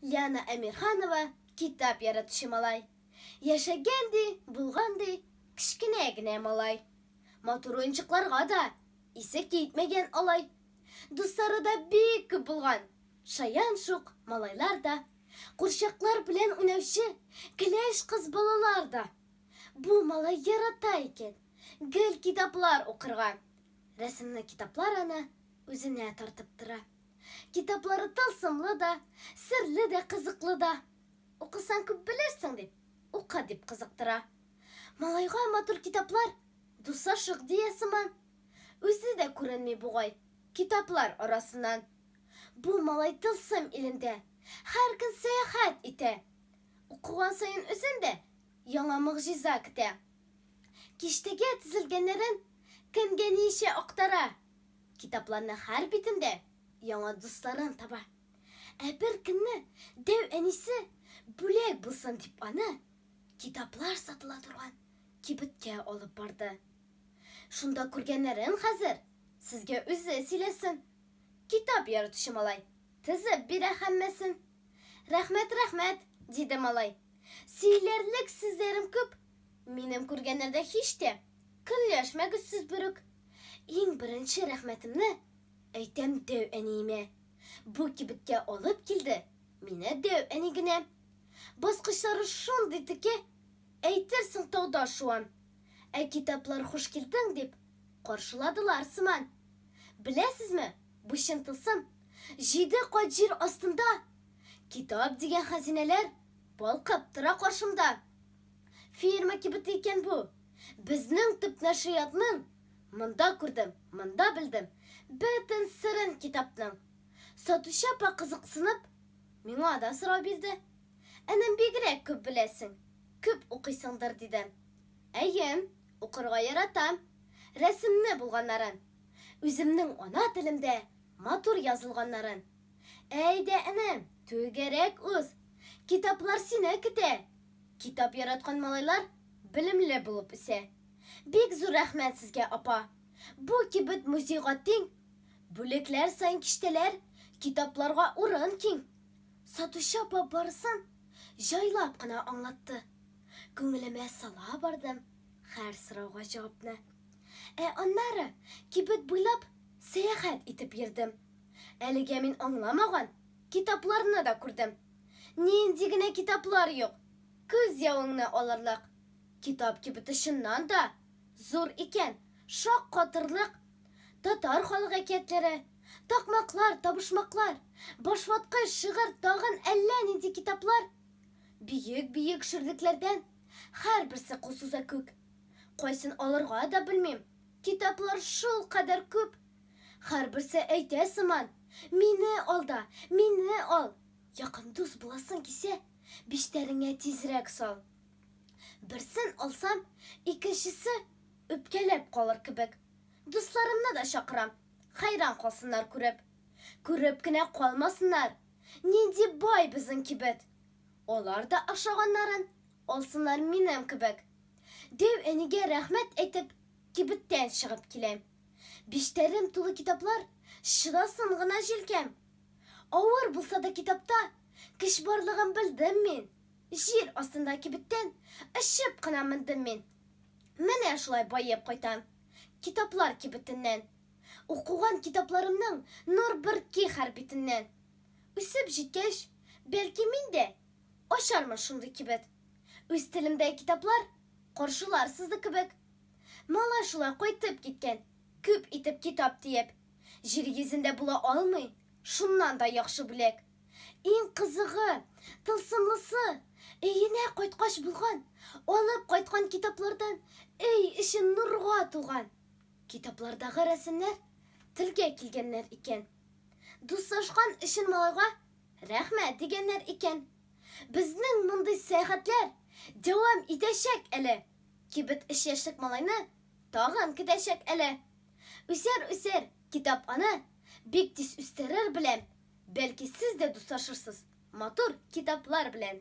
Лиана Әмирханова китап яратучы малай. Яшәгән ди, булган ди, кечкенә генә малай. Матур уенчыкларга да исе китмәгән алай. Дуслары да бик күп булган, шаян шук малайлар да, курчаклар белән уйнаучы кәләш кыз балалар да. Бу малай ярата икән гел китаплар укырга. Рәсемле китаплар аны үзенә тартып тора. Китаплары тылсымлы да, серле дә, кызыклы да. Укысаң күп белерсең дип, ука дип кызыктыра. Малайга матур китаплар, дусашык дия сыман. Үзе дә күренми бугай, китаплар арасыннан. Бу малай тылсым илендә, һәр көн сәяхәт итә. Укыган саен үзен дә яңа могҗиза көтә. Киштәгә тезелгәннәрен кемгә ниичә актара. Китапларның һәр битендә яңа дусларын таба. Ә бер көнне дәү әнисе бүләк булсын дип аны китаплар сатыла торган кибеткә алып барды. Шунда күргәннәрен хәзер сезгә үзе сөйләсен. Китап яратучы малай тезеп бирә һәммәсен. Рәхмәт, рәхмәт, диде малай. Сөйләрлек сүзләрем күп. Минем күргәннәрдә һич тә көнләшмәгез сез берүк. Иң беренче рәхмәтемне әйтәм дәү әниемә. Бу кибеткә алып килде мине дәү әни генә. Баскычлары шундый теке, әйтерсең тауда шуан. Ә китаплар хуш килдең дип каршыладылар сыман. Беләсезме, бу чын тылсым, җиде кат җир астында китап дигән хәзинәләр балкып тора каршымда. Фирма кибеты икән бу. Безнең төп нәшриятның Монда күрдем, монда белдем Бөтен серен китапның. Сатучы апа кызыксынып, Миңа да сорау бирде. Энем, бигрәк күп беләсең, Күп укыйсыңдыр, дидем. Әйе, укырга яратам. Рәсемне булганнарын. Үземнең ана телемдә Матур язылганнарын. Әйдә, энем, түгәрәк уз. Китаплар сине көтә. Китап яраткан малайлар белемле булып үсә. Бик зур рәхмәт сезгә, апа. Бу кибет музейга тиң. Бүлекләр саен киштәләр, китапларга урын киң. Сатучы апа барысын җайлап кына аңлатты. Күңелемә сала бардым һәр сорауга җавапны. Ә аннары кибет буйлап сәяхәт итеп йөрдем. Әлегә мин аңламаган китапларны да күрдем. Нинди генә китаплар юк! Күз явыңны алырлык! Китап кибете чыннан да зур икән, шаккатырлык! Татар халык әкиятләре, такмаклар, табышмаклар, башваткыч, шигырь, тагын әллә нинди китаплар! Биек-биек ширлекләрдән, һәрберсе кулсуза күк! Кайсын алырга да белмим, китаплар шулкадәр күп! Һәрберсе әйтә сыман, Мине ал да, мине ал! Якын дус буласың кисә, Биштәреңә тизрәк сал! Берсен алсам, икенчесе Үпкәләп калыр кебек. Дусларымны да чакырам, Хәйран калсыннар күреп. Күреп кенә калмасыннар, Нинди бай безнең кибет! Алар да ашаганнарын Алсыннар минем кебек. Дәү әнигә рәхмәт әйтеп, Кибеттән чыгып киләм. Биштәрем тулы китаплар, Чыдасын гына җилкәм. Авыр булса да китапта Көч барлыгын белдем мин. Җир астында кибеттән Очып кына мендем мин. Менә шулай баеп кайтам Китаплар кибетеннән. Укыган китапларымның Нур бөрки һәр битеннән. Үсеп җиткәч, бәлки мин дә Ачармын шундый кибет. Үз телемдәге китаплар Каршылар сызы кебек. Малай шулай кайтып киткән, күп итеп китап диеп. Җир йөзендә була алмый, шуннан да яхшы бүләк. Иң кызыгы, тылсымлысы, өенә кайткач булган, алып кайткан китаплардан өй эче нурга тулган. Китаплардагы рәсемнәр телгә килгәннәр икән. Дуслашкан өчен малайга рәхмәт дигәннәр икән. Безнең мондый сәяхәтләр дәвам итәчәк әле! Кибет өч яшьлек малайны Тагын көтәчәк әле. Үсәр, үсәр, китап аны Бик тиз үстерер беләм. Бәлки сез дә дуслашырсыз Матур китаплар белән.